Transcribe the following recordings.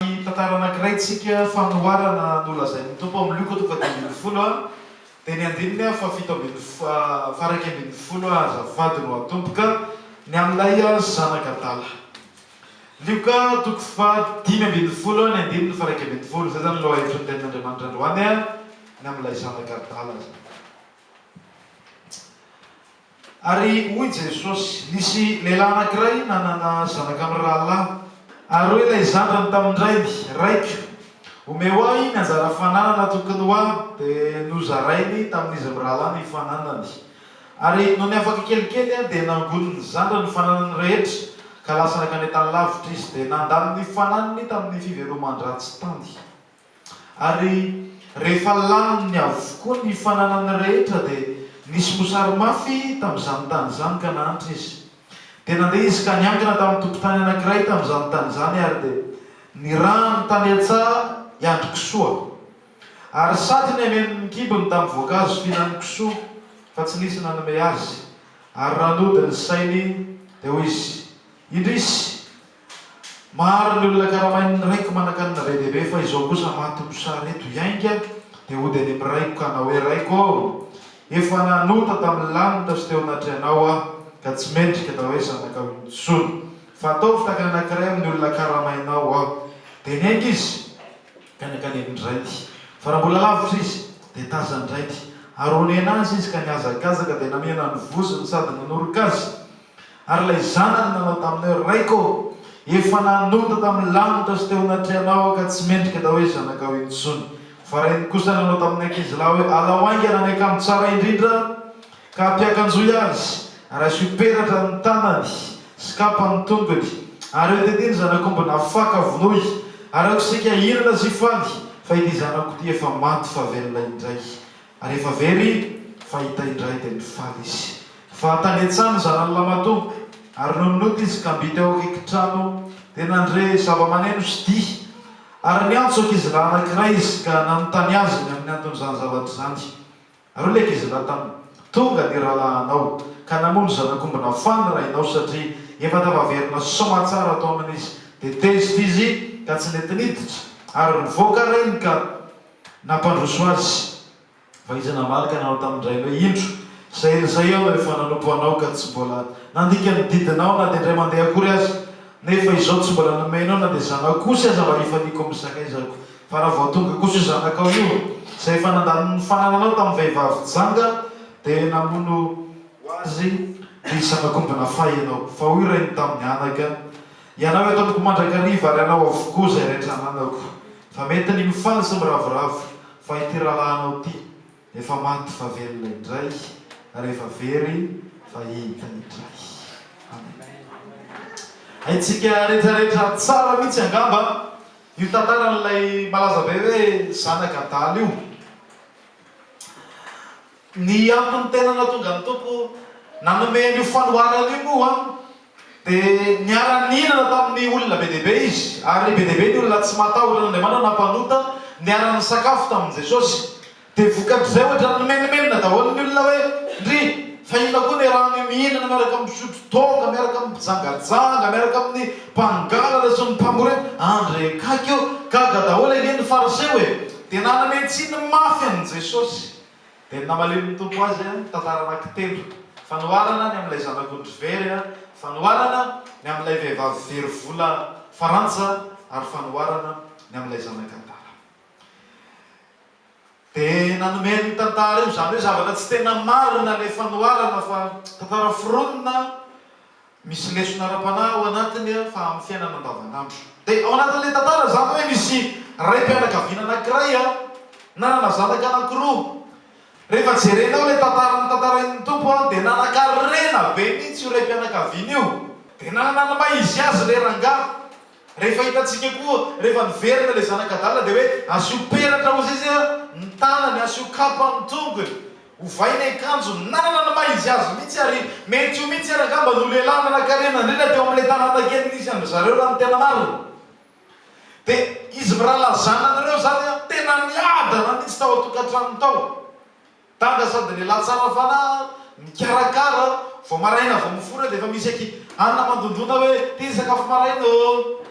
Ny tantara anankiray tsika fanoharana nolazain'ny Tompo amin'ny Luka toko fahadimy ambin'ny folo dia ny andininy fahafito ambin'ny faharaika ambin'ny folo azafady no atomboka ny amin'ilay zanak'adala. Luka toko fahadimy ambin'ny folo ny andininy faharaika ambin'ny folo izay izany lohahevitry ny tenin'Andriamanitra androany ny amin'ilay zanak'adala izany. Ary hoy Jesosy, Nisy lehilahy anankiray nanana zanaka mirahalahy. Ary hoy ilay zandriny tamin-drainy, Raiko, omeo ahy ny anjara fananana tokony ho ahy. Dia nozarainy tamin'izy mirahalahy ny fananany. Ary nony afaka kelikely, dia nangonin'ny zandriny ny fananany rehetra, ka lasa nankany an-tany lavitra izy, dia nandany ny fananany tamin'ny fiveloman-dratsy tany. Ary rehefa laniny avokoa ny fananany rehetra dia nisy mosary mafy tamin'izany tany izany ka nahantra izy. Dia nandeha izy ka niangona tamin'ny tompon-tany anankiray tamin'izany tany izany ary dia nirahany tany an-tsaha hiandry kisoa. Ary sady niameno ny kibony tamin'ny voankazo fihinan'ny kisoa fa tsy nisy nanome azy. Ary raha nody ny sainy dia hoy izy, Indrisy! Maro ny olona karamain'ny raiko manankanina be dia be fa izao kosa maty mosary eto iainga dia hody any amin'ny raiko ka hanao hoe raiko ô! Efa nanota tamin'ny lanitra sy teo anatrehanao aho ka tsy mendrika atao hoe zanakao intsony. Fa ataovy tahaka ny anankiray amin'ny olona karamainao aho. Dia niainga izy ka nankany amin-drainy. Fa raha mbola lavitra izy dia tazan-drainy ary honena azy izy ka nihazakazaka dia namihana ny vozony sady nanoroka azy. Ary ilay zanany nanao taminy hoe, Raiko ô, efa nanota tamin'ny lanitra sy teo anatrehanao aho, ka tsy mendrika atao hoe zanakao intsony. Fa rainy kosa nanao tamin'ny ankizilahy hoe, Alao haingana ny akanjo tsara indrindra, ka ampiakanjoy azy, ary asio peratra ny tanany sy kapa ny tongony, ary eo tetỳ ny zanak'omby nafaka, vonoy, ary aoka isika hihinana sy hifaly, fa ity zanako ity efa maty fa velona indray. Ary efa very i, fa hita indray dia mifaly izy. Fa tany an-tsaha ny zanany lahimatoa, ary nony nody izy ka mby teo akaiky trano, dia nandre zava-maneno sy dihy. Ary niantso ankizilahy anankiray izy ka nanontany azy ny amin'ny anton'izany zavatra izany. Ary hoy ilay ankizilahy taminy, Tonga ny rahalahinao, ka namono zanak'omby nafà ny rainao, satria efa tafaverina soa tsara tao aminy izy. Dia tezitra izy ka tsy nety niditra, ary nivoaka reny ka. Nampandroso azy, fa izy namaly ka nanao tamin-drainy hoe, Indro, izay herin'izay aho no efa nanompo anao ka tsy mbola nandika ny didinao na dia indray mandeha akory aza, nefa izao tsy mbola nomenao na dia zanako kosa aza mba hifaniako amin'ny sakaizako. Fa raha vao tonga kosa io zanakao io, izay efa nandany ny fanananao tamin'ny vehivavy janga, dia namono ho azy ny zanak'omby nafahy ianao. Fa hoy rainy tamin'ny anaka, Ianao eto amiko mandrakariva ary anao avokoa izay rehetra ananako. Fa mety ny mifaly sy miravoravo fa ity rahalahinao ity efa maty fa velona indray ary efa very fa hita indray. Amen. Haintsika retraretra tsara mihitsy angamba io tantaran'ilay malaza be hoe zanak' adala io. Ny antony tena nahatonga ny Tompo nanome an'io fanoharana io moa Dia niara-nihinana tamin'ny olona be dia be izy, ary be dia be ny olona tsy matahotra an'Andriamanitra na mpanota niara-nisakafo tamin'i Jesosy. Dia vokatr'izay hoatran'ny nimenomenona daholo ny olona hoe, Ndry, fa inona koa niarahany io mihinana miaraka amin'ny mpisotro toaka, miaraka amin'ny mpijangajanga, miaraka amin'ny mpangalatra sy ny mpamory aina? Andry e! Gaga eo! Gaga daholo ange ny Fariseo e! Dia naname tsiny mafy an'i Jesosy. Dia ny namalian'ny Tompo azy, mitantara anakitelo, fanoharana ny amin'ilay zanak'ondry very, fanoharana ny amin'ilay vehivavy very vola farantsa, ary fanoharana ny amin'ilay zanak'adala. Dia nanome an'io tantara io, izany hoe zavatra tsy tena marina ilay fanoharana fa tantara foronina, Misy lesona ara-panahy ao anatiny fa amin'ny fiainana andavanandro. Dia ao anatin'ilay tantara izany hoe misy raim-pianakaviana anankiray nanana zanaka anankiroa. Rehefa jerenao ilay tantara notantarain'ny Tompo dia nanankarena be mihitsy io raim-pianakaviana io. Dia nanana ny maha izy azy ilay rangahy. Rehefa hitantsika koa rehefa niverina ilay zanak'adala dia hoe asio peratra ozy izy ny tanany, asio kapa ny tongony, ovaina ny kanjony, nanana ny maha izy azy mihitsy ary mety io mihitsy ary angamba no lehilahy nanankarena indrindra teo amin'ilay tanàna kely nisy an-dry zareo raha ny tena marina. Dia izy mirahalahy zanany ireo izany tena niadana mihitsy tao an-tokantrano tao. Dada sady lehilahy tsara fanahy mikarakara vao maraina vao mifoha dia efa misy aky anona mandondona hoe ty sakafo maraina ô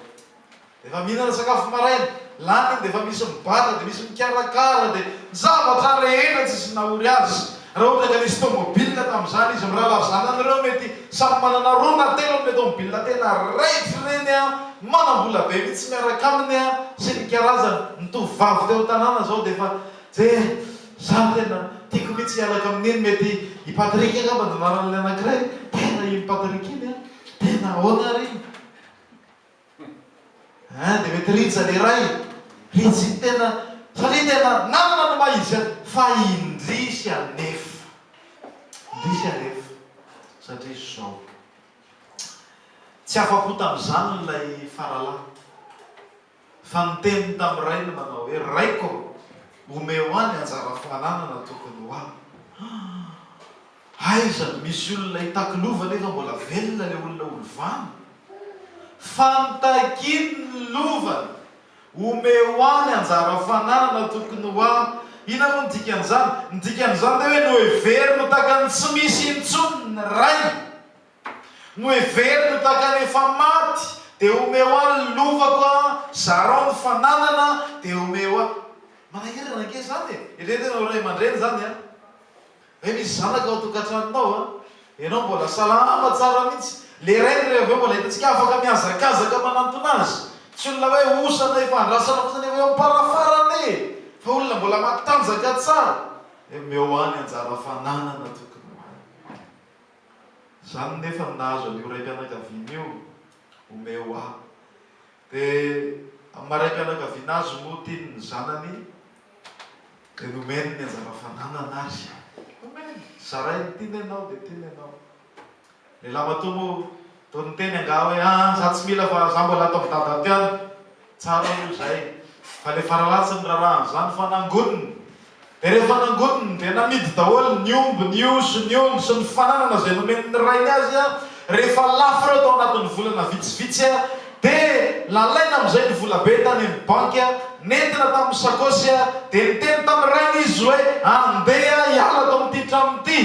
dia efa mihinana sakafo maraina lany iny dia efa misy mibata dia misy mikarakara dia ny zavatra rehetra tsisy nahory azy raha ohatra ka nisy tomobilina tamin'izany izy mirahalahy zanany ireo mety samy manana roa na telo amin'ilay tomobilina tena raitsy ireny an manambola be mitsy miaraka aminy an sy ny karazany ny tovovavy teo an-tanàna izao dia efa Tse, za tena tiako mitsy hialaka amin'iny mety i Patrick angamba no anaran'ilay anakiray, tena iny Patrick iny an, tena ahoana ary iny an, dia mety Rija le iray, Rija iny tena, satria tena nanana ny maha izy azy, fa indrisy anefa, indrisy anefa, satria zao, tsy afa-po tamin'izany ilay Faralahy. fa niteniny tamin'ny rainy manao hoe, Raiko ô, omeo ahy ny anjara fananana tokony ho ahy. Ah! Aiza no misy olona itakilova nefa mbola velona ilay olona ho lovany? Fa notakiny ny lovany! Omeo ahy ny anjara fananana tokony ho ahy. Inona moa ny dikan'izany? Ny dikan'izany dia hoe noheveriny ho takany tsy misy intsony ny rainy. Noheveriny tahaka ny efa maty, dia omeo ahy ny lovako a, zarao ny fananana, dia omeo ahy. Manahirana ange izany e! Eritrereto ianao ray aman-dreny izany an! Ve misy zanaka ao an-tokantranonao an! Ianao mbola salama tsara mihitsy. Ilay rainy re avy eo mbola hitantsika afaka mihazakazaka manantona azy. Tsy olona hoe osa na efa andrasana fotsiny avy eo am-parafarany e! Fa olona mbola matanjaka tsara. Dia omeo ahy ny anjara fananana tompoko. Izany nefa no nahazo an'io raim-pianakaviana io omeo ahy. Dia amin'ny maha raim-pianakaviana azy no tiany ny zanany dia nomeny ny anjara fananana ary. Nomeny, zarainy, tiany ianao dia tiany ianao. Ny lahimatoa moa Toa niteny angaha hoe aah za tsy mila fa za mbola ato am dada ato ihany. Tsara aloha izay fa le faralatsy ny rarahany zany fa nangoniny de rehefa nangoniny de namidy daholo ny omby, ny osy, ny ondry sy ny fananana izay nomen'ny rainy azy a! Rehefa lafo ireo tao anatin'ny volana vitsivitsy a! De nalaina amizay ny volabe tany am banky a! Nentina tamin'ny sakosy a! De niteny tamin'ny rainy izy hoe andeha hiala ato amin'ity tranony ity!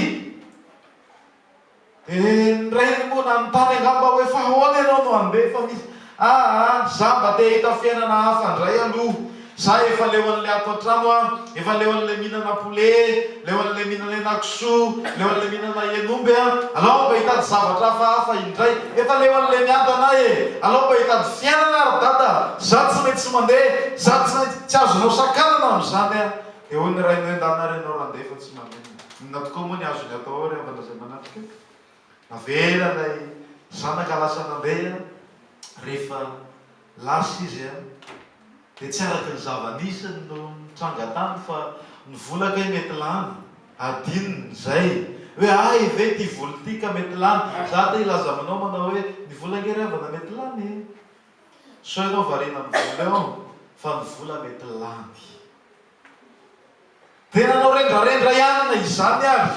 Eh ny rainy moa nanontany angamba hoe fa ahoana ianao no handeha fa misy aa za mba te hahita fiainana hafa ndray aloha za efa leo an'le ato antrano an, efa leo an'le mihinana poulet, leo an'le mihinana henakisoa, leo an'le mihinana hen'omby an, alao mba hitady zavatra hafahafa indray, efa leo an'le miadana e, alao mba hitady fiainana ry dada, za tsy maintsy tsy mandeha, za tsy maintsy, tsy azonao sakanana amin'izany an, dia hoy ny rainy hoe ndana ary ianao randeha fa tsy maninona. Inona tokoa moa ny azony atao ao ry havana izay manatrika? Navela ilay zanaka lasa nandeha, rehefa lasa izy dia tsy araka ny zava-nisy no nitranga tany fa ny vola kay mety lany, adinony izay hoe ahy ve ity vola ity ka mety lany, za te hilaza aminao manao hoe ny vola ange ry havana mety lany e! sao ianao variana amin'ny vola eo fa ny vola mety lany. Dia nanao rendrarendra ihany na izany ary.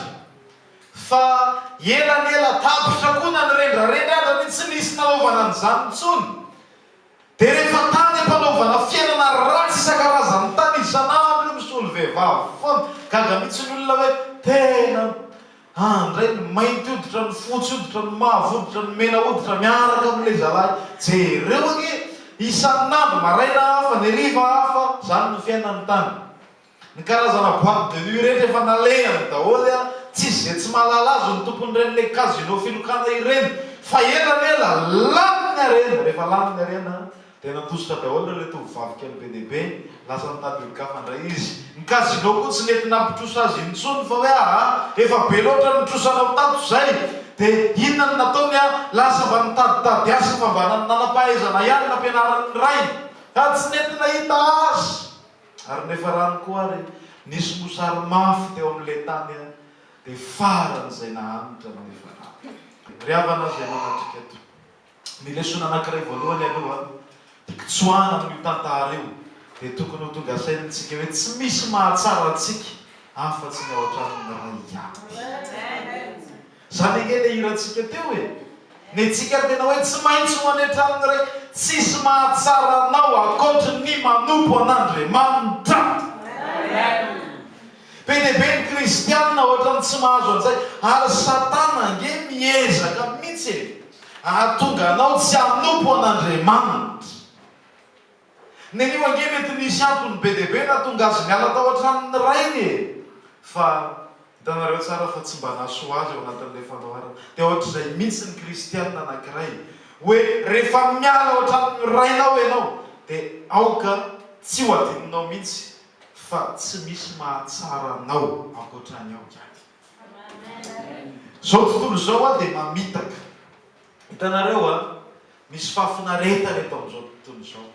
Fa ela ny ela tapitra koa na ny rendrarendra aza ny tsy nisy nanaovana an'izany intsony. Dia rehefa tany am-panaovana fiainana ratsy isan-karazany tany isan'andro misolo vehivavy foana. Gaga mihitsy ny olona hoe tena Handray ny mainty hoditra, ny fotsy hoditra, ny mavo hoditra, ny mena hoditra miaraka amin'ilay zalahy. Jereo ange! Isan'andro, maraina hafa, ny hariva hafa, izany no fiainan'ny tany. Ny karazana boite de nuit rehetra efa nalehany daholo, tsisy izay tsy mahalala azy ny tompon'iren'ilay casino filokana ireny. Fa ela ela, lany ny harena! Rehefa lany ny harena, Dia nantosotra daholo ireo ilay tovovavy kely be dia be. Lasa nitady olon-kafa indray izy. Ny casino koa tsy nety nampitrosa azy intsony fa hoe aa efa be loatra ny nitrosanao tato izay. Dia inona no nataony an? Lasa mba nitaditady asa fa mba nanam-pahaizana ihany nampianariny ny rainy. Fa tsy nety nahita azy. Ary ny efa rano koa ary nisy mosary mafy teo amin'ilay tany an. Dia faran'izay nahantra ny efa rano. Ry havana izay manatrika eto. Ny lesona anankiray voalohany aloha hikitsoahana amin'io tantara io dia tokony ho tonga saina amintsika hoe tsy misy mahatsara antsika afa-tsy ny ao an-tranon'ny Ray ihany. Izany ange ilay hirantsika teo e! Ny antsika tena hoe tsy maintsy ho any an-tranon'ny Ray, tsisy mahatsara anao ankoatry ny manompo an'Andriamanitra. Be dia be ny kristianina ohatran'ny tsy mahazo an'izay ary satana ange miezaka mihitsy e ahatonga anao tsy hanompo an'Andriamanitra. Nenio ange mety nisy antony be dia be nahatonga azy niala tao an-tranon'ny rainy e! Fa hitanareo tsara fa tsy mba nahasoa azy ao anatin'ilay fandaharana. Dia ohatr'izay mihitsy ny kristianina anankiray hoe rehefa miala ao an-tranon'ny rainao ianao dia aoka tsy ho adinonao mihitsy fa tsy misy mahatsara anao ankoatran'i aho ihany. Zao tontolo izao an dia mamitaka. Hitanareo an, misy fahafinaretana eto amin'izao tontolo izao.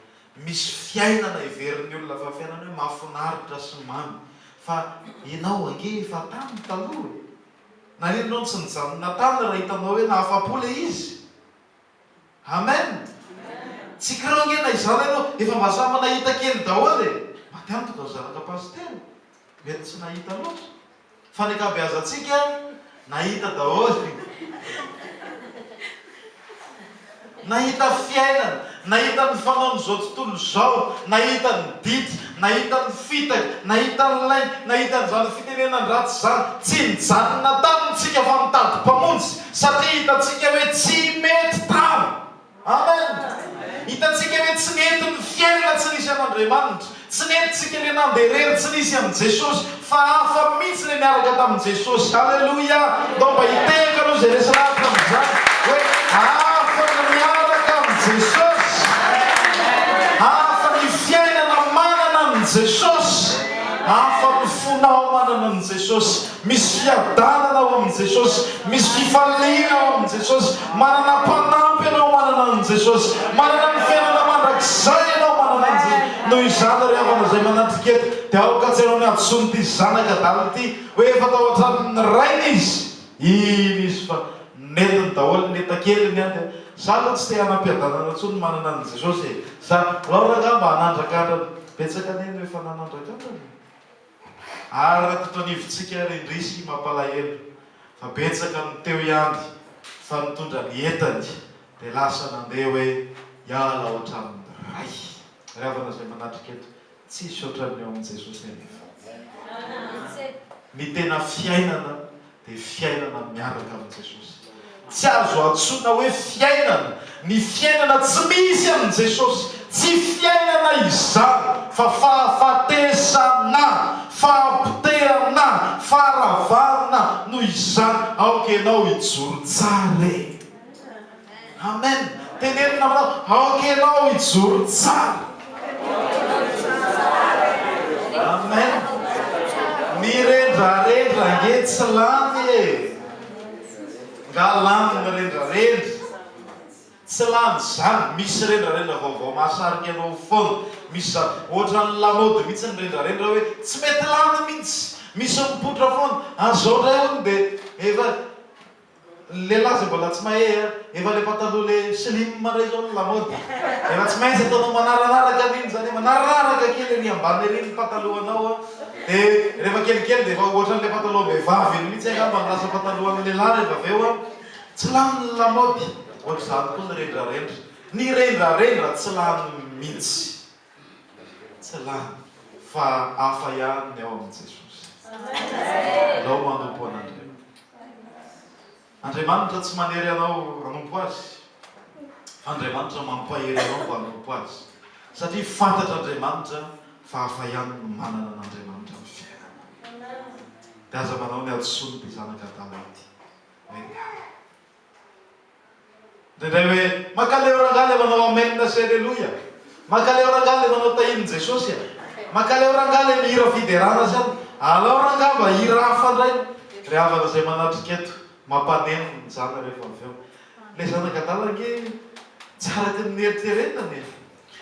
Misy fiainana heverin'ny olona fa fiainana hoe mahafinaritra sy mamy. Fa ianao ange efa tany taloha e! Naninona no tsy nijanona tany raha hitanao hoe nahafapo ilay izy? Amen! Tsy kiraoy nge na izany aloha efa mba samy nahita kely daholo e! Maty antoka ry zanaka Pasitera mety tsy nahita loatra fa ny ankabeazantsika nahita daholo Nahita fiainana, nahita ny fanaon'izao tontolo izao, nahita ny didy, nahita ny fitaka, nahita ny lainga, nahita an'izany fitenenana ratsy izany. Tsy nijanona taminy tsika fa nitady Mpamonjy. Satria hitantsika hoe tsy mety tam. Amen. Hitantsika hoe tsy nety ny fiainana tsy nisy an'Andriamanitra. Tsy nety tsika le nandeha rery tsy nisy an'i Jesosy. Fa hafa mihitsy le niaraka tamin'i Jesosy. Haleloia. Ndao mba hitehaka aloha izay resy lavitra amin'izany hoe hafa ny miaraka amin'i Jesosy. Hafa ny fiainana manana an'i Jesosy. Hafa ny fonao manana an'i Jesosy. Misy fiadanana ao amin'i Jesosy. Misy fifaliana ao amin'i Jesosy. Manana mpanampy ianao manana an'i Jesosy. Manana ny fiainana mandrakizay ianao manana an'i Jesosy. Noho izany, ry havana izay manatrika eto, dia aoka tsy ianao ny hadisoany ity zanak' adala ity, hoe efa tao an-tranon'ny rainy izy. Iny izy fa nentiny daholo ny entakeliny an! dia izaho aloha tsy te hanam-piadanana intsony ny manana an'i Jesosy e! Izaho, ianao rangahy mba hanandrakandra ny betsaka anay no efa nanandrakandra anao. Ary raha tito anivontsika ary indrisy mampalahelo fa betsaka ny teo ihany fa nitondra ny entany dia lasa nandeha hoe hiala ao an-tranon'ny Ray. Ry havana izay manatrika eto, tsisy ohatran'ny ao amin'i Jesosy anefa. Ny tena fiainana dia fiainana miaraka amin'i Jesosy. Tsy azo antsoina hoe fiainana ny fiainana tsy misy an'i Jesosy. Tsy fiainana izany fa fahafatesana, fahapotehana, faharavana. Noho izany, aoka ianao hijoro tsara e! Amen teneno namana aoka ianao hijoro tsara Amen ny rendrarendra ange tsy lany e nga lany ny rendrarendra tsy lany zany misy rendrarendra vaovao mahasarika anao foana misy zany ohatran'ny lamody mitsy ny rendrarendra hoe tsy mety lany mitsy misy mipoitra foana ary zao ndray hono de efa Lehilahy zay mbola tsy mahey a! Efa le pataloha le slim ndray zao no lamaody. Efa tsy maintsy ataonao manarararaka ry iny zany hoe manarararaka kely ery ambany ery ny patalohanao a! De rehefa kelikely de efa ohatran'le patalohan-behivavy iny mihitsy angamba no lasa patalohan'ny lehilahy rehefa avy eo a! Tsy lany ny lamaody! Ohatr'izany koa ny rendrarendra. Ny rendrarendra tsy lany mihitsy. Tsy lany fa hafa ihany ny ao amin'i Jesosy. Alao manompo an'Andriamanitra. Andriamanitra tsy manery anao hanompo Azy, fa Andriamanitra mampahery anao mba hanompo Azy, satria fantatr'Andriamanitra fa hafa ihany ny manana an'Andriamanitra amin'ny fiainana. Dia aza manao ny hadisoan'ity zanak'Adama ity hoe. Indraindray hoe, Makaleo rangahy le manao Amen sy Aleloia. Makaleo rangahy le manao Tahin'i Jesosy a. Makaleo rangahy le mihira fiderana zany. Alao rangahy mba hira hafa ndray. Ry havana izay manatrika eto, mampaneno ny jana rehefa avy eo. Le zanak'adala ange tsy araka ny neritreretany e.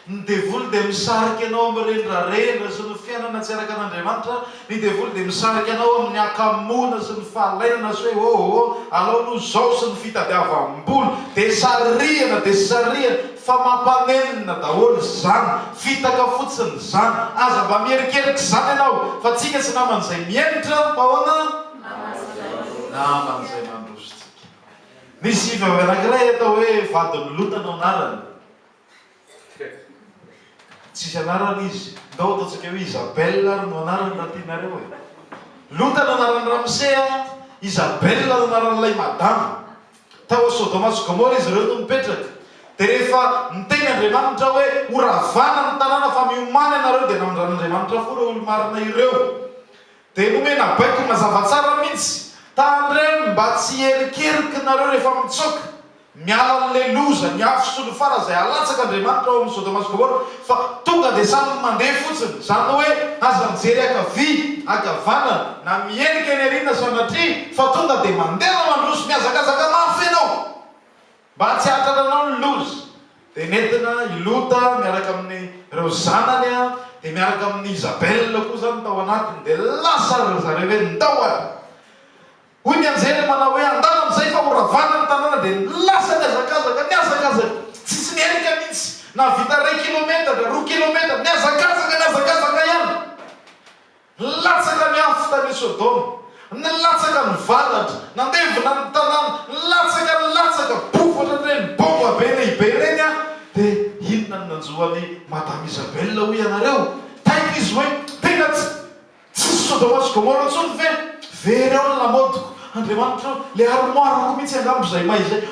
Ny devoly dia misarika anao amin'ny renirarena sy ny fiainana tsy araka an'Andriamanitra. Ny devoly dia misarika anao amin'ny hakamoana sy ny fahalainana sy hoe oh oh, alao aloha izao sy ny fitadiavam-bola. Dia sarihana, dia sarihana fa mampanenina daholo izany, fitaka fotsiny izany. Aza mba miherikerika izany ianao fa tsika tsy naman'izay mihemotra, mba ahoana? Naman'izay mandroso tsika. Nisy vehivavy anankiray atao hoe Vadinilota no anarany. Tsisy anarany izy. Ndao ataontsika hoe Isabelle ary no anarany raha tianareo e. Lota no anaran'i Ramsé a, Isabelle no anaran'ilay madama. Tao Sodoma sy Gomora izy ireo no nipetraka. Dia rehefa niteny Andriamanitra hoe horavana ny tanàna fa miomany ianareo dia namindranin'Andriamanitra fo ireo olo-marina ireo. Dia nomena baiko mazava tsara mintsy. Tandremo mba tsy hierikeriky nareo rehefa mitsoaka. Miala anle loza ny afo sy ny fara izay alatsaka Andriamanitra ao amin'ny Sodoma sy Gomora fa tonga dia samy mandeha fotsiny. Izany hoe aza mijery ankavia, ankavanana, na mihenika ny arina sanatria fa tonga dia mandeha na mandroso. Mihazakazaka mafy ianao. Mba tsy hahatrananao ny loza dia nentina i Lota miaraka amin' ireo zanany a, dia miaraka amin' i Izabela koa izany tao anatiny, dia lasa ry zareo hoe ndao ary. Hoy ny anjely manao hoe andalo amin' izay fa ho ravana ny tanàna, dia lasa nihazakazaka, nihazakazaka, tsisy niainga mihitsy, nahavita iray kilometatra, roa kilometatra, nihazakazaka, nihazakazaka ihany. Nilatsaka ny afo tany Sodoma, nilatsaka ny varatra, nandevona ny tanàna, nilatsaka, nilatsaka, bofatra ireny baomba be lehibe ireny an! Dia inona no nanjo an'i Madame Isabel hoy ianareo? Taitra izy hoe, Tena tsy, tsisy Sodoma sy Gomora intsony ve? Very ao ny lamaodiko. Andriamanitra o, ilay armoire-ko mihitsy angamba izay may izay.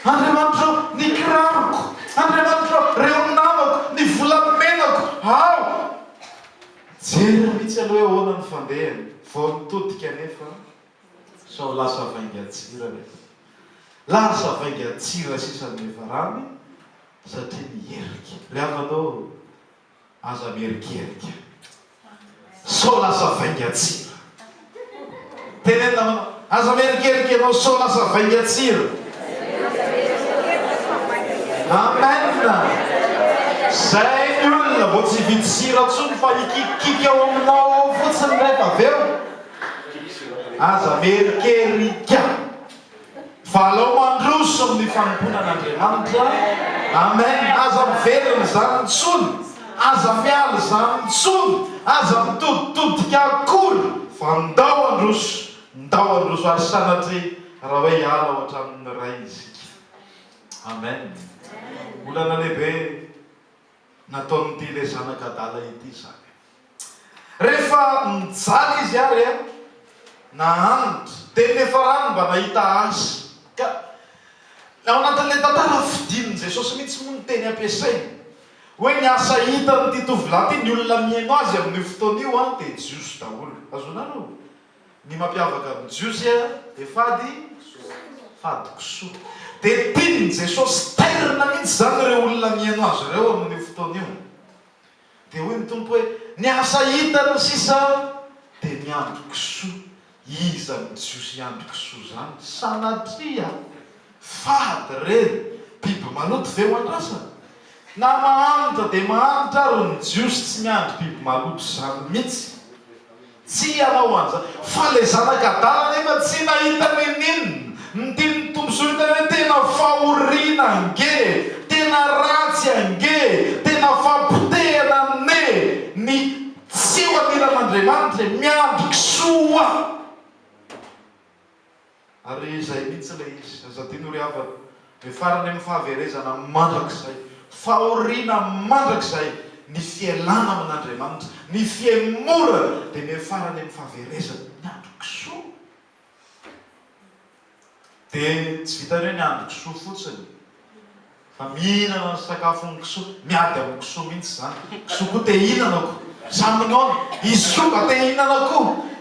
Andriamanitra o, ny kiraroko. Andriamanitra o, ireo namako, ny volamenako. Ao! Jereo mihitsy aloha hoe ahoana ny fandehany vao nitodika anefa sao lasa vaingan-tsira ve? Lasa vaingan-tsira sisa ny levaramy satria niherika. Ry havana ô, aza miherikerika sao lasa vaingan-tsira. Teneno namana. Aza mierikerika ianao sao lasa vaingan-tsira. Amen. Izay ny olona vao tsy hividy sira intsony fa hikikikiky ao aminao ao fotsiny rehefa avy eo. Aza mierikerika. Fa alao mandroso amin'ny fanompoana an'Andriamanitra. Amen. Aza miverina izany intsony. Aza miala izany intsony. Aza mitoditodika akory. Fa ndao handroso. Ndao handroso. Ary sanatria raha hoe hiala ao an-tranon'ny Ray isika. Amen. Olana lehibe. nataon'ity ilay zanak'adala ity izany. Rehefa mijaly izy ary an, na hanitra, dia nefarany mba nahita azy. Ka ao anatin'ilay tantara fidin'i Jesosy mihitsy moa ny teny ampiasainy, hoe ny asa hitan'ity tovolahy ity, ny olona mihaino azy amin'io fotoana io an, dia Jiosy daholo. Azonareo? Ny mampiavaka ny Jiosy dia fady fady kisoa. Dia tian'i Jesosy tairina mihitsy izany ireo olona mihaino azy ireo amin'io fotoana io. Dia hoy ny Tompo hoe, Ny asa hitany sisa dia ny andro kisoa. Iza ny Jiosy hiandry kisoa izany? Sanatria! Fady ireny biby maloto ve ho andrasana? Na mahantra dia mahantra ary ny jiosy tsy miandry biby maloto izany mihitsy. Tsy hanao an'izany. Fa ilay zanak'Adala anefa tsy nahita n'inon'inona. Ny tian'ny tombosoa hita hoe tena fahoriana ange, tena ratsy ange, tena fampotehana anie ny tsy ho anilan'Andriamanitra e! Miandry kisoa! Ary izay mihitsy ilay izy. Aza adino ry havana. Dia farany amin'ny fahaverezana mandrakizay, fahoriana mandrakizay, ny fialana amin'Andriamanitra, ny fihemorana, dia miafarany amin'ny fahaverezana, ny andron-kisoa. Dia tsy vitan'ny hoe ny andron-kisoa fotsiny. Fa mihinana ny sakafon'ny kisoa, miady amin'ny kisoa mihitsy izany, kisoa koa te hihinana ko, sa minoana, izy koa mba te hihinana ko,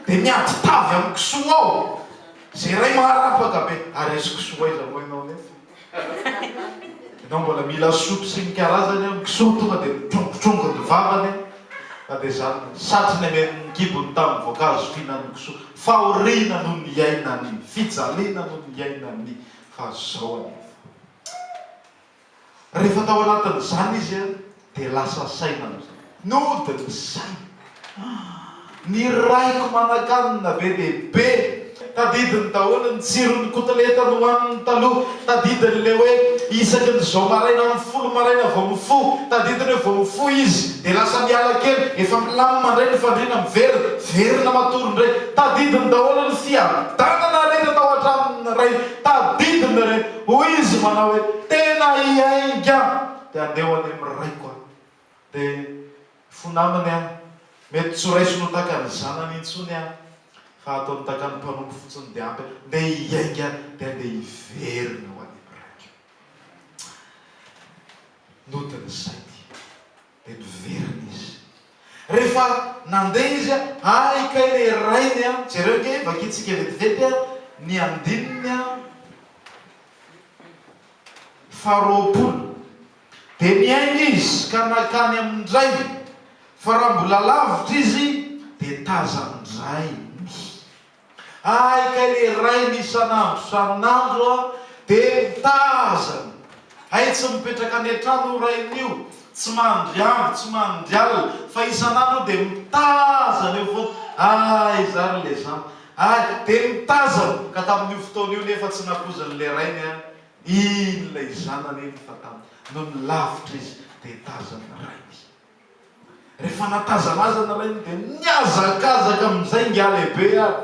dia miady tavy amin'ny kisoa ao, izay iray maharapaka be, ary izy kisoa aiza moa ianao nefa, ianao mbola mila sotro sy ny karazany eo, ny kisoa tonga dia mitrongotrongony ny vavany eo, fa dia izany, satry ny amen'ny kibony tamin'ny voankazo fihinan'ny kisoa, fahoriana no niainany, fijaliana no niainany, fa izao anefa. Rehefa tao anatin'izany izy dia lasa saina amin'izay. Nody ny sainy. Ny raiko manan-kanina be dia be. Tadidiny daholo ny tsiron'ny kotileta nohaniny taloha. Tadidiny ilay hoe isaky ny izao maraina amin'ny folo maraina vao mifoha. Tadidiny hoe vao mifoha izy dia lasa miala kely, efa milamina indray ny fandriana, miverina, verina matory indray. Tadidiny daholo ny fiadanana rehetra tao an-tranon'ny rainy. Tadidiny ireny. Hoy izy manao hoe, Tena hiainga aho, dia handeha ho any amin'ny raiko aho. Dia fo namany aho. Mety tsy ho raisiny ho takan'ny zanany intsony aho, fa hataony takan'ny mpanompo fotsiny, dia ampy aho. Ndeha hiainga aho, dia handeha hiverina ho any amin'ny raiko. Noten'izay dia. Dia niverina izy. Rehefa nandeha izy, Hay kay ry rainy a! Jereo kay, vakintsika vetivety ny andininy faharoapolo. Dia niainga izy ka nankany amin'ny rainy, fa raha mbola lavitra izy dia tazan'ny rainy. Hay kay le rainy isan'andro sarin'andro a de mitaha azany. Hay tsy mipetraka any an-trano io rainy io, tsy mandry andro, tsy mandry alina fa isan'andro io de mitaha azany eo foana. Hay za ry le zan ay de mitazana ka tamin'io fotoana io nefa tsy nakoziny le rainy a iny lay zanany iny fa tam nony lavitra izy de tazan'ny rainy izy. Rehefa natazanazana raha iny dia nihazakazaka amin'izay ingahy lehibe ary.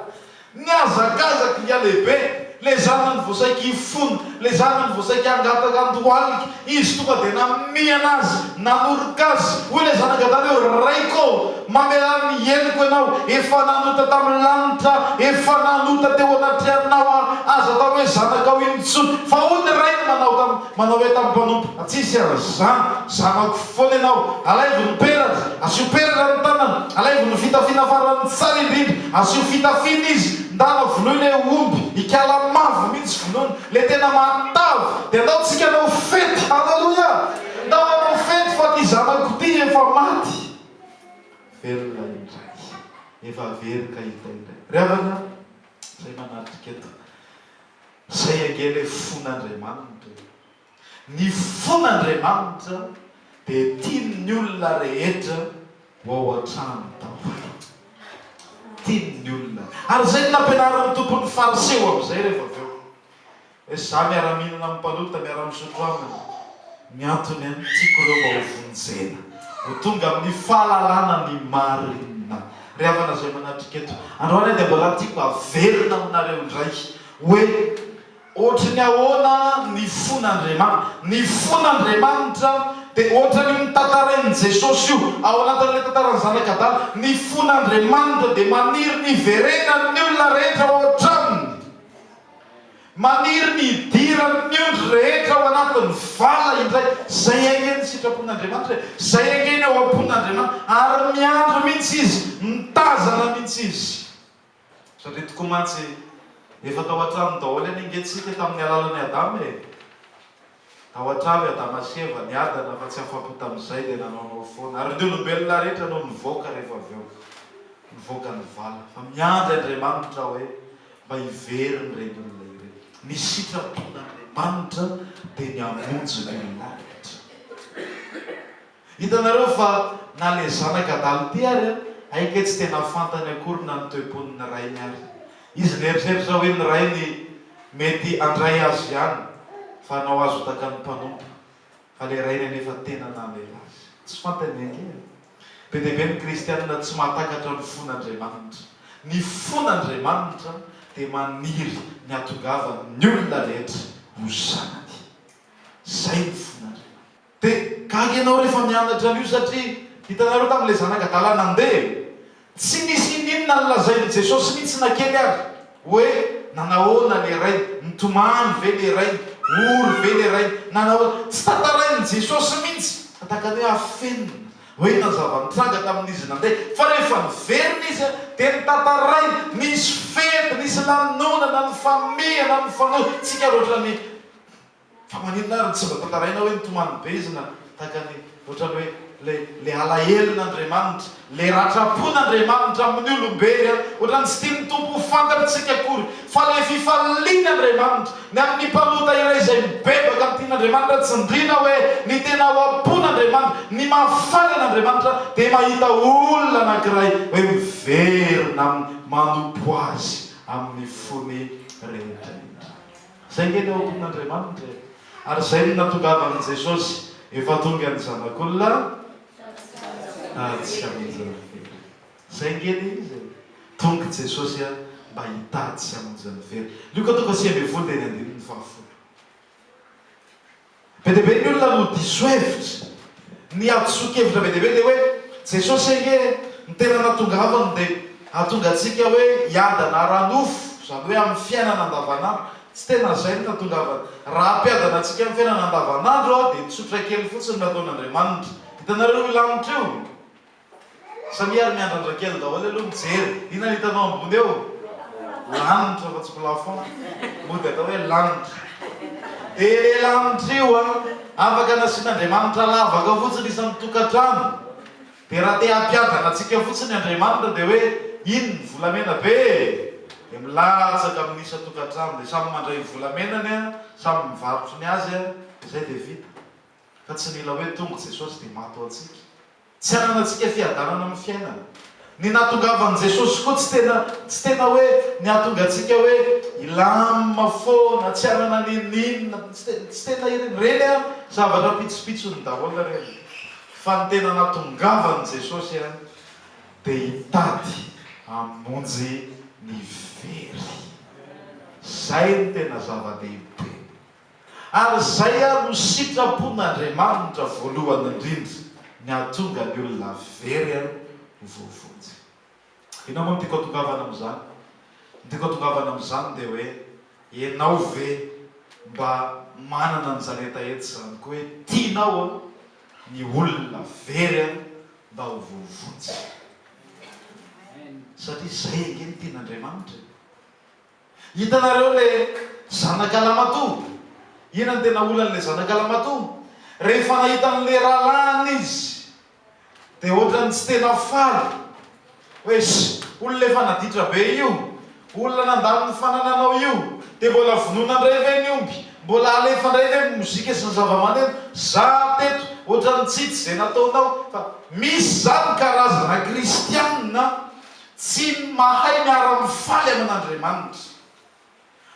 Nihazakazaka ingahy lehibe, ilay zanany vao saika hifona, ilay zanany vao saika hangataka an-dohalika, izy tonga dia namihana azy, nanoroka azy, hoy ilay zanagadany hoe, Raiko ô, mamelà ny henoko ianao, efa nanota tamin'ny lanitra aho, efa nanota teo anatrehanao aho, aza atao hoe zanakao intsony, fa hoy ny rainy manao tamin'ny. Manao hoe tamin'ny mpanompo, Raha tsy hisy an'izany, zanako foana ianao. Alaivo ny peratra. Asio peratra ny tanany. Alaivo ny fitafiana farany tsara indrindra. Asio fitafiana izy. Ndana vonoy le omby. Ikala mavo mihitsy vonoina. Le tena matavy. Dia ndaontsika hanao fety. Haleloia! Ndao hanao fety fa ity zanako ity efa maty. Velona indray. Efa very ka hita indray. Ry havana izay manatrika eto. Izay ange ilay fon'Andriamanitra e! Ny fon'Andriamanitra dia tiany ny olona rehetra ho ao an-trano daholo. Tiany ny olona. Ary izay no nampianarin'ny Tompo ny Fariseo amin'izay rehefa avy eo. Hoe za miara-mihinana amin'ny mpanota, miara-misotro aminy. Ny antony an, tiako ireo mba ho vonjena, ho tonga amin'ny fahalalana ny marina. Ry havana izay manatrika eto androany dia mbola tiako mba haverina aminareo indray hoe ohatry ny ahoana ny fon'Andriamanitra. Ny fon'Andriamanitra dia ohatran'io notantarain'i Jesosy io ao anatin'ilay tantaran'ny zanak'adala. Ny fon'Andriamanitra dia maniry ny hiverenan'ny olona rehetra ao an-tranony. Maniry ny hidiran'ny ondry rehetra ao anatin'ny vala indray izay haingen'ny sitrapon'Andriamanitra e, izay haingeny ao am-pon'Andriamanitra, ary miandry mihitsy izy, mitazana mihitsy izy. Satria tokoa mantsy efa tao an-trano daholo anie ange isika tamin'ny alalan'i Adama e. Tao an-trano i Adama sy Eva niadana fa tsy afa-po tamin'izay dia nanaonao foana. Ary ny olombelona rehetra no nivoaka rehefa avy eo. Nivoaka ny vala. Fa miandry Andriamanitra aho hoe mba hivery ny reny olona ireny. Ny sitrapon'Andriamanitra dia ny hamonjy ny olona rehetra. Hitanareo fa na le zanaka adala ty ary an, haike tsy tena fantany akory na ny toe-pony ny rainy ary. Izy mieritreritra hoe ny rainy mety andray azy ihany fa hanao azy ho takan'ny mpanompo. Fa le rainy anefa tena namela azy. Tsy fantany ange e. Be dia be ny kristianina tsy mahatakatra ny fon'Andriamanitra. Ny fon'Andriamanitra dia maniry ny hatongavan'ny olona rehetra ho zanany. Zay ny fon'Andriamanitra. Dia gaga ianao rehefa mianatra an'io satria hitanareo tamin'ilay zanak'adala nandeha e! tsy nisy ininona ny lazain'i Jesosy mihitsy na kely ary hoe nanahoana ilay rainy, nitomany ve ilay rainy, ory ve ilay rainy, nanahoana, tsy tantarain'i Jesosy mihitsy fa tahaka ny hoe afenina hoe inona ny zava-nitranga tamin'izy nandeha fa rehefa niverina izy dia notantarainy, nisy fety, nisy lanonana, nifamihana, nifanojo, tsika ary ohatran'ny. Fa maninona ary no tsy mba tantaraina hoe ny tomany bezina tahaka ny ohatran'ny hoe ilay ilay alahelon'Andriamanitra, ilay ratram-pon'Andriamanitra amin'ny olombely an! Ohatran'ny tsy tian'ny Tompo ho fantatr'isika akory fa ilay fifalian'Andriamanitra ny amin'ny mpanota iray izay mibebaka amin'ny tian'Andriamanitra, tsindriana hoe ny tena ao am-pon'Andriamanitra, ny mahafaly an'Andriamanitra dia mahita olona anankiray hoe miverina amin'ny manompo Azy amin'ny fony rehetra indray. Zay nge le ompin Andriamanitra e. Ary zay no natongavan Jesosy efa tonga ny zanak'olona tatsy amonjin'ny fery. Zay nge le izy e. Tong Jesosy a mba hitady sy hamonjy ny very. Lioka toko faha sivy ambin'ny folo dia ny andininy faha folo. Be dia be ny olona no diso hevitra. Ny ady sokevitra be dia be dia hoe, Jesosy ange no tena natongavany dia hahatonga antsika hoe hiadana ara-nofo, izany hoe amin'ny fiainana andavanandro. Tsy tena izay no natongavany. Raha hampiadana antsika amin'ny fiainana andavanandro dia tsotra kely fotsiny ny ataon'Andriamanitra. Hitanareo io lanitra io? Samia ary miandrandra kely daholo aloha mijery. Inona ny hitanao ambony eo? Lanitra fa tsy plafond. Mody atao hoe lanitra. Dia ilay lanitra io an, afaka nasian'Andriamanitra lavaka fotsiny isan'ny tokantrano. Dia raha te hampiadana antsika fotsiny Andriamanitra dia hoe iny ny volamena be e! Dia milatsaka amin'ny isan-tokantrano dia samy mandray ny volamenany an, samy mivarotry ny azy an, dia izay dia vita. Fa tsy mila hoe tonga Jesosy dia maty ho antsika. Tsy ananantsika fiadanana amin'ny fiainana. Ny nahatongavan'i Jesosy koa tsy tena tsy tena hoe nihatonga antsika hoe hilam foana, tsy hanana n'inon'inona, tsy tena ireny, ireny an, zavatra pitsopitsony daholo ireny. Fa ny tena nahatongavan'i Jesosy an, dia hitady hamonjy ny very. Izay no tena zava-dehibe. Ary izay ary no sitrapon'Andriamanitra voalohany indrindra, ny hahatonga ny olona very ho voavonjy. Inona moa no tiako hatongavana amin'izany? Ny tiako hatongavana amin'izany dia hoe, ianao ve mba manana an'izany hetaheta izany koa hoe tianao ny olona very mba ho voavonjy? Satria izay ange no tian'Andriamanitra e! Hitanareo le zanaka lamatoa? Inona no tena olany le zanaka lamatoa? Rehefa nahita an' le rahalahiny izy de ohatrany tsy tena faly hoe olona efa naditra be io, olona nandany ny fanananao io de mbola vonoina ndray ve ny omby? Mbola alefa ndray ve ny mozika sy ny zavamaneno? Za teto ohatrany tsy hitsy ze nataonao fa misy zany karazana kristianina Tsy mahay miara-mifaly amin'Andriamanitra.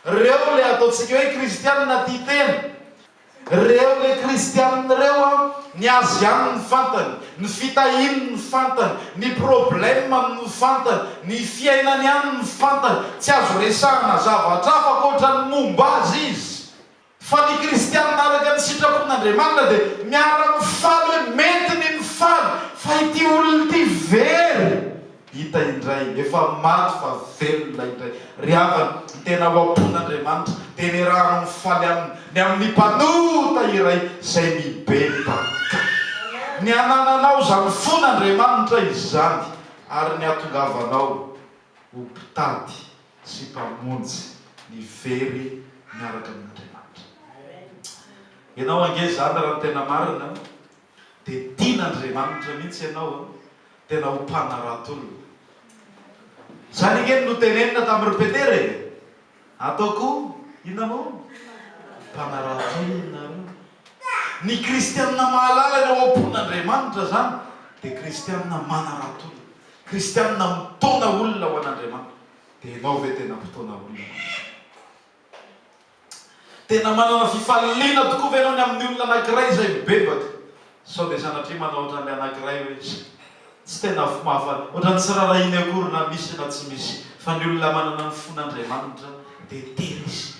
Reo ilay ataontsika hoe kristianina tia tena. Reo ilay kristianina reo an, ny azy ihany no fantany, ny fitahiany no fantany, ny problème-ny no fantany, ny fiainany ihany no fantany. Tsy azo resahana zavatra hafa ankoatran'ny momba azy izy. Fa ny kristianina araka ny sitrapon'Andriamanitra dia miara-mifaly hoe mety ny mifaly fa ity olona ity very hita indray, efa maty fa velona indray. Ry havana, ny tena ho ampon'Andriamanitra dia niarahanao nifaly aminy ny amin'ny mpanota iray izay mibebaka. Ny anananao izany fon'Andriamanitra izany ary ny hatongavanao ho mpitady sy mpamonjy ny very miaraka amin'Andriamanitra. Ianao ange zany raha ny tena marina dia tian'Andriamanitra mihitsy ianao an, tena ho mpanarato olona. Izany ange no notenenina tamin'i ry Petera e! Atao koa inona moa? Mpanaradia nareo. Ny kristianina mahalala ny ao am-pon'Andriamanitra izany dia kristianina manaradia, kristianina mitaona olona ho an'Andriamanitra. Dia ianao ve tena mpitaona olona ho an'Andriamanitra? Tena manana fifaliana tokoa ve ianao ny amin'ny olona anankiray izay mibebaka? Sao dia sanatria manao ohatran'ny anankiray hoe tsy tena fo mahafaly, ohatran'ny tsy raharahiany akory na misy na tsy misy, fa ny olona manana ny fon'Andriamanitra dia tery izy,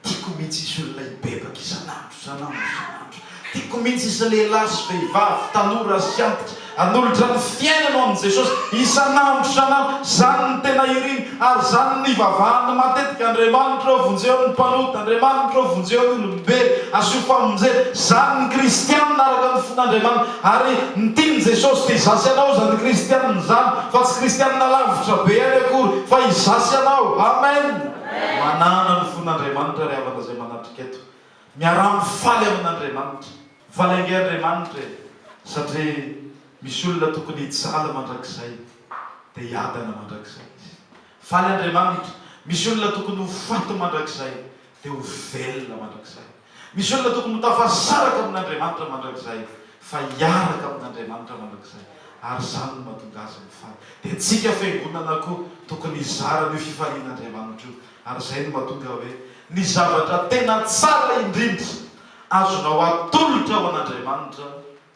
tiako mihitsy izy olona hibebaka isan'andro, isan'andro, isan'andro, tiako mihitsy izy lehilahy sy vehivavy, tanora sy antitra, hanolotra ny fiainany ho an'i Jesosy isan'andro, isan'andro, izany no tena iriny, Ary izany no nivavahany matetika, Andriamanitro ô, vonjeo ny mpanota, Andriamanitro ô, vonjeo ny olombelo, asio famonjena. Izany ny kristianina araka ny fon'Andriamanitra. Ary ny tian'i Jesosy dia izaho sy ianao izany kristianina izany, fa tsy kristianina lavitra be any akory, fa izaho sy ianao. Amen! Manana ny fon'Andriamanitra ry havana izay manatrika eto. Miaraha-mifaly amin'Andriamanitra. Faly ange Andriamanitra e! satria misy olona tokony hijaly mandrakizay dia hiadana mandrakizay izy. Faly Andriamanitra, misy olona tokony ho faty mandrakizay dia ho velona mandrakizay. Misy olona tokony ho tafasaraka amin'Andriamanitra mandrakizay fa hiaraka amin'Andriamanitra mandrakizay ary izany no mahatonga azy mifaly. Dia antsika fiangonana koa tokony hizara an'io fifalian'Andriamanitra io ary izay no mahatonga hoe ny zavatra tena tsara indrindra Azonao atolotra ho an'Andriamanitra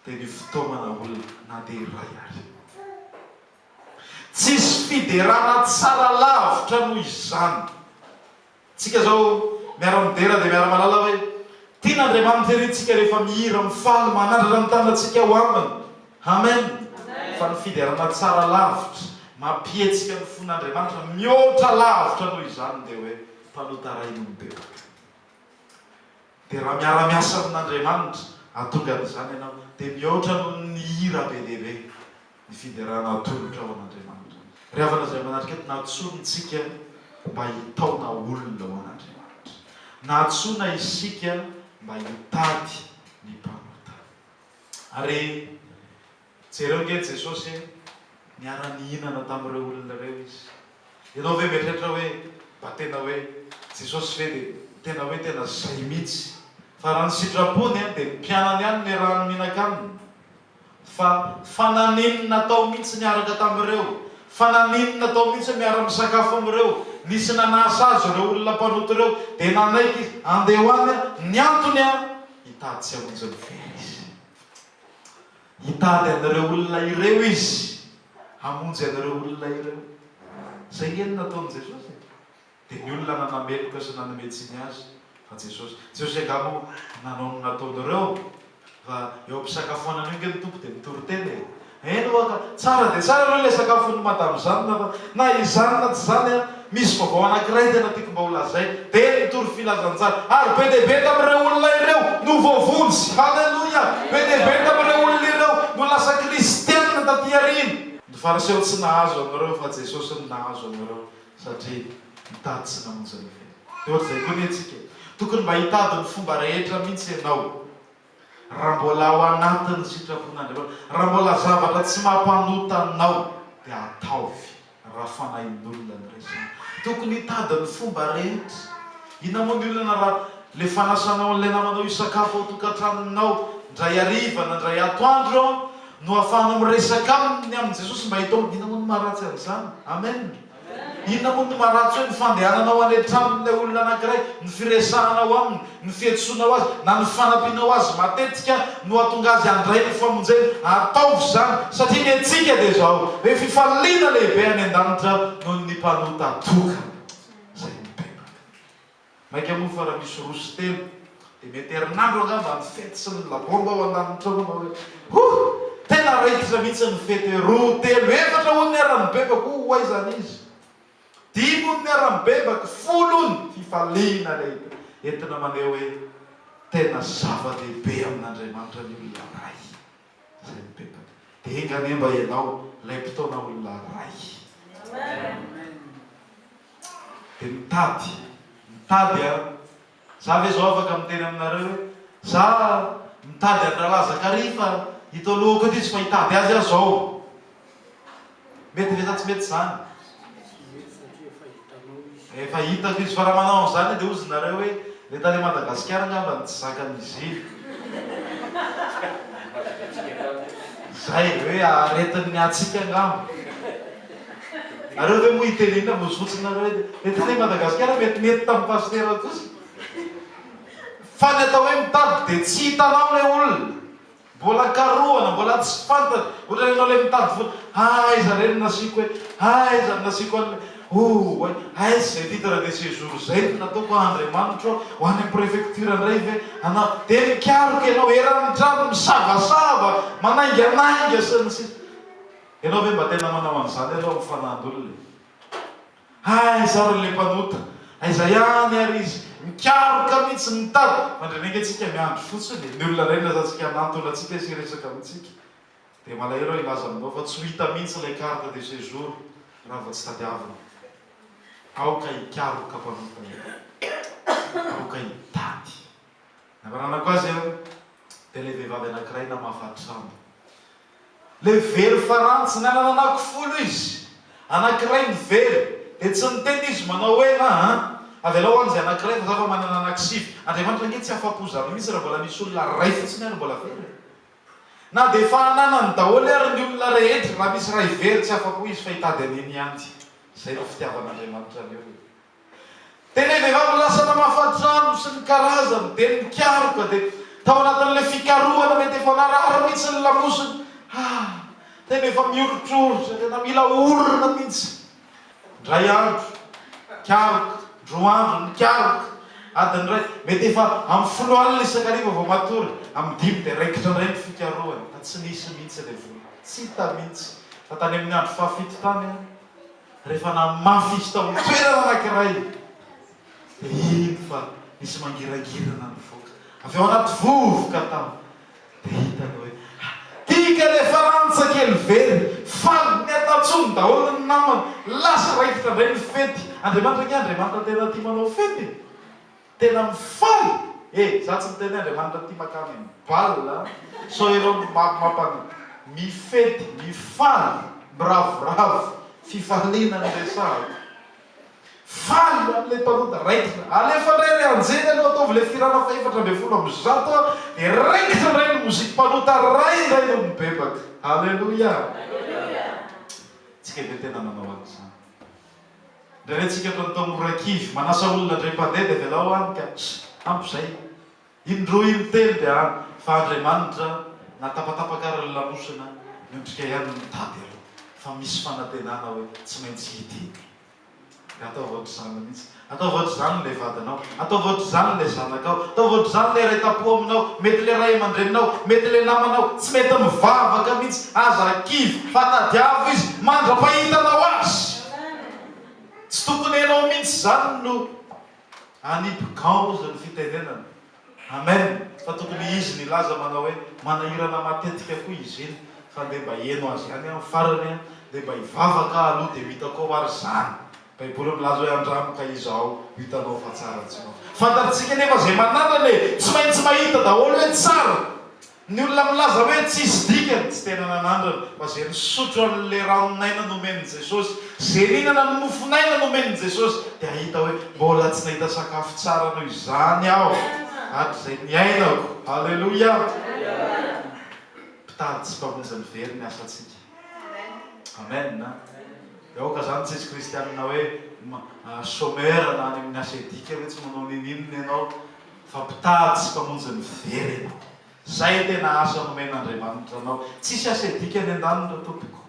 dia ny fitaomana olona na dia iray àry. Tsisy fiderana tsara lavitra noho izany. Tsika izao miara-midera dia miara-mahalala hoe tian' Andriamanitra ery tsika rehefa mihira, mifaly, manandratra ny tanantsika ho Aminy. Amen! Fa ny fiderana tsara lavitra, mampihetsika ny fon'Andriamanitra mihoatra lavitra noho izany dia hoe mpanota rain'olombelona. Dia raha miara-miasa amin'Andriamanitra hahatonga an'izany ianao, dia mihoatra noho ny hira be dia be ny fiderana atolotrao an'Andriamanitra. Ry havana izay manatrika eto, nantsoin' isika mba hitaona olona ho an'Andriamanitra. Nantsoina isika mba hitady ny mpanota. Ary. Jereo nge Jesosy e! Niara-nihinana tamin'ireo olona ireo Izy. Ianao ve mieritreritra hoe mba tena hoe Jesosy ve dia tena hoe tena izay mihitsy? Fa raha ny sitrapony dia ny mpianany ihany niarahany mihinaka Aminy. Fa fa naninona tao mihitsy niaraka tamin'ireo? Fa naninona tao mihitsy miara-misakafo amin'ireo? Nisy nanasa Azy ireo olona mpanota ireo dia nanaiky Izy. Andeha ho any aho. Ny antony an, hitady tsy hamonjy ny vera Izy. Hitady an'ireo olona ireo Izy, hamonjy an'ireo olona ireo. Izay ange no nataon'i Jesosy e! Dia ny olona nanameloka sy nanome tsiny Azy fa Jesosy. Jesosy angaha moa nanao ny nataony ireo? Fa eo am-pisakafoanana eo ange ny Tompo dia mitory tena e! Eny ho'a ka! Tsara dia tsara aloha ilay sakafon'i Madame izany fa na izany na tsy izany an! Misy vaovao anankiray tena tiako mba holazaina, dia ny tory filazantsara. Ary be dia be tamin'ireo olona ireo no voavonjy. Haleloia! Be dia be tamin'ireo olona ireo no lasa kristiana tatỳ aoriana. Ny Fariseo tsy nahazo an'ireo, fa Jesosy no nahazo an'ireo, satria nitady sy namonjy ny velona. Dia hoatr'izay koa anie isika. Tokony mba hitady ny fomba rehetra mihitsy ianao. Raha mbola ao anatin'ny sitrapon'Andriamanitra, raha mbola zavatra tsy mampanota anao, dia ataovy raha fanahin'olona ny resaka. Tokony hitady ny fomba rehetra. Inona moa ny olana raha ilay fanasanao an'ilay namanao hisakafo ao tokantranonao indray hariva na indray atoandro no ahafahanao miresaka aminy ny amin'i Jesosy mba hitaomany. Inona moa ny maharatsy an'izany? Amen. Inona moa no maharatsy hoe ny fandehananao any an-tranon'ilay olona anankiray, ny firesahanao aminy, ny fihetsoanao azy, na ny fanampianao azy matetika no hahatonga azy handray ny famonjena? Ataovy izany, satria ny antsika dia izao, hoe fifaliana lehibe any an-danitra noho ny mpanota tokana izay mipetraka. Mainka moa fa raha misy roa sy telo dia mety herinandro angamba ny fety sy ny labomba ao an-danitra ao ianao hoe huh! tena raikitra mihitsy ny fety roa, telo, efatra hono ny haran'ny bebako oh! ho aiza any izy? dimy hono ny haran'ny bebako, folo hono! fifaliana lehibe entina maneho hoe tena zava-dehibe amin'Andriamanitra ny olona iray. izay mipetaka. Dia enga anie mba ianao ilay mpitaona olona iray. Dia mitady, mitady a. Za ve zao afaka miteny aminareo hoe za mitady an'i Ralaza Kary fa ito alohako ity tsy fa hitady azy aho zao. Mety ve sa tsy mety izany? Mety satria efa hitanao izy. Efa hitako izy, fa raha manao an'izany dia hozy nareo hoe le tany Madagasikara angamba no tsy zakan'izy iny. Izay, hoe aretin'ny hatsiaka angamba. Nareo ve moa hiteny inona vozy fotsiny nareo hoe le tany Madagasikara mety nety tamin'ny pasitera kosa. Fa ny atao hoe mitady dia tsy hitanao le olona. Mbola karohana, mbola tsy fantany, ohatrany ianao ilay mitady vola, ha aiza re no nasiako e, ha aiza no nasiako an'ilay, ooay, aiza izay titre de séjour izay no nataoko a, Andriamanitro a, ho any amin'ny préfecture indray ve, hanao, dia mikaroka ianao eran'ny trano, misavasava, manainganainga sy ny sisa. Ianao ve mba tena manao an'izany ary ao amin'ny fanahin'olona e? Aiza ary ilay mpanota? Aiza ihany ary izy? Mikaroka mihitsy mitady! Mandreneika tsika miandry fotsiny e! Ny olona iray nilazantsika hanantona antsika sy hiresaka amintsika. Dia malahelo aho hilaza aminao fa tsy ho hita mihitsy ilay carte de séjour raha vao tsy tadiavina. Aoka hikaroka mpanota e! Aoka hitady! Ny amaranako azy an! Dia ilay vehivavy anankiray namafa trano. Ilay very faranjy nanana anako folo izy, anankiray no very, dia tsy niteny izy manao hoe, Ha a, avelao any izay anankiray fa za efa manana anankisivy. Andriamanitra ange tsy afa-po zany mihitsy raha mbola misy olona iray fotsiny ary mbola very e! Na dia efa ananany daholo ary ny olona rehetra, raha misy iray very tsy afa-po izy fa hitady an'iny ihany. Izay ilay fitiavan'Andriamanitra ny olona. Dia ilay vehivavy lasa namafa trano sy ny karazany dia nikaroka dia tao anatin'ilay fikarohana mety efa narary mihitsy ny lamosiny ah! tena efa mioritroritra tena mila orina mihitsy indray andro nikaroka indroa andro nikaroka adiny iray mety efa amin'ny folo alina isan-kariva vao matory amin'ny dimy dia raikitra indray ny fikarohana fa tsy nisy mihitsy ilay vola tsy hita mihitsy fa tany amin'ny andro fahafito tany ah! Rehefa namafy izy tao amin'ny toerana anankiray, dia hino fa nisy mangirangirana nivoaka avy ao anaty vovoka tao. Dia hitany hoe, Tika ilay faransa kely very! Faly, niatantsony daholo ny namany. Lasa raikitra indray ny fety. Andriamanitra ange Andriamanitra tena tia manao fety e! tena mifaly e za tsy miteny hoe Andriamanitra ty makany am bal a sao ianao no mampan mifety mifaly miravoravo fifaliana no resahako faly am le mpanoda raikitra alefa ndray ry anjely aloha ataovy le firana faha efatra ambin'ny folo amby zato a de raikitra ndray ny moziky mpanota ray ndray no mibebaka aleloia tsy keve tena manao an'izany. Indray retsika eto Antamorakivy. Manasa olona indray mpandeha dia avelao any ka. Ampy izay. In-droa in-telo dia any. Fa Andriamanitra na tapatapaka ary ny lamosina miondrika ihany no mitady aloha. Fa misy fanantenana hoe tsy maintsy hita iny. Dia ataovy ohatr'izany mihitsy. Ataovy ohatr'izany ilay vadinao. Ataovy ohatr'izany ilay zanakao. Ataovy ohatr'izany ilay ray tam-po aminao. Mety ilay ray aman-dreninao. Mety ilay namanao. Tsy mety mivavaka mihitsy. Aza kivy fa tadiavo izy mandra-pahitanao azy. Tsy tokony ianao mihitsy izany no hanipy gants hozy ny fitenenana. Amen. Fa tokony izy no hilaza manao hoe, manahirana matetika koa izy iny. Fa ndeha mba heno azy ihany amin'ny farany an. Ndeha mba hivavaka aho aloha dia ho hitako ao ary izany. Baiboly milaza hoe andramo ka izao hitanao fa tsara tsy mafy. Fantatsika anefa izay manandrana e! Tsy maintsy mahita daholo hoe tsara. Ny olona milaza hoe tsisy dikany tsy tena nanandrana fa izay misotro an'ilay ranon'aina nomen'i Jesosy, izay mihinana ny mofon'aina nomen'i Jesosy dia hahita hoe mbola tsy nahita sakafo tsara noho izany aho hatrizay niainako. Haleloia! Mpitady sy mpamonjy ny very ny asantsika. Amen a! Dia aoka izany tsisy kristianina hoe chômeur na any amin'ny asa edika hoe tsy manao ninininona ianao fa mpitady sy mpamonjy ny very ianao. Izay tena asa nomen'Andriamanitra anao. Tsisy asa edika any an-daniny ry tompoko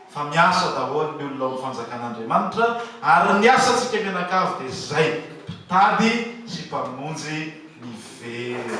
fa miasa daholo ny olona ao amin'ny fanjakan'Andriamanitra ary ny asantsika mianakavy dia izay, mpitady sy mpamonjy ny very.